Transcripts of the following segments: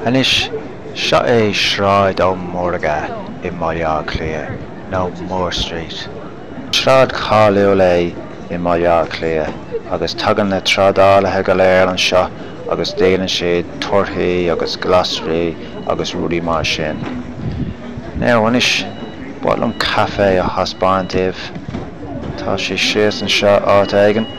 Anois, seo é Sráid Ó Mórdha i mBaile Átha Cliath, nó Moore Street. Sráid cháiliúil é i mBaile Átha Cliath, agus tagann na trádálaithe go léir anseo agus díolann siad torthaí agus glasraí agus rudaí mar sin. Now, anois, ba mhaith liom caife a thaispeáint daoibh. Tá sé síos anseo áit éigin.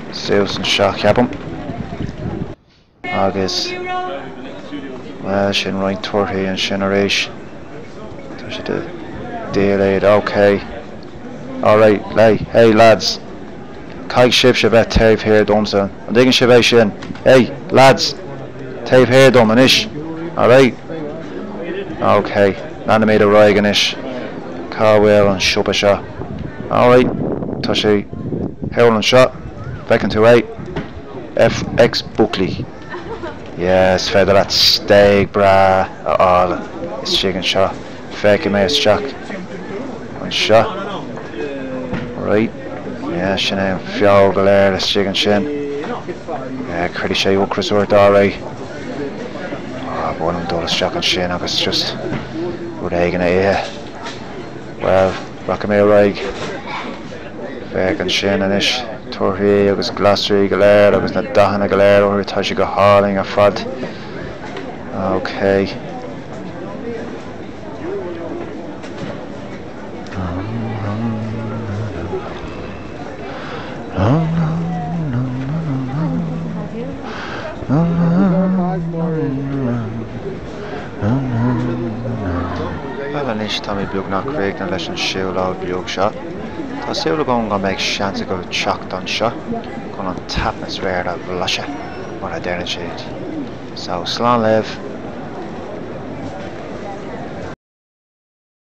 suas anseo ceapaim agus bhuel sin roinnt torthaí ansin arís tá siad a déileáil ok alright hey hey lads caithfidh sibhse a bheith taobh thiar domsa an dtuigeann sibh é sin hey lads taobh thiar dom anois alright ok Leanfaimid ar aghaidh anois. Cá bhfuil an siopa seo? Alright, tá sé thall anseo, feiceann tú é? FX Buckley. Yeah, is féidir leat stéig breá a fháil istigh anseo. Féachfaidh mé isteach anseo. Right, yeah, sin é an feoil go léir istigh ansin. Yeah, cuirfidh sé ocras ort, alright. Ba mhaith liom dul isteach ansin agus just rud éigin a ithe. Bhuel, rachaidh mé ar aghaidh. Féach ansin anois, torthaí agus glasraí go léir agus na dathanna go léir orthu, tá siad go hálainn ar fad. Óicé. Bhuel anois tá mé beagnach críochnaithe leis an siúlóid beag seo. Tá súil agam go mbeidh seans agaibh teacht anseo chun an t-atmaisféar a bhlaiseadh, mar a deireann siad. So, slán libh!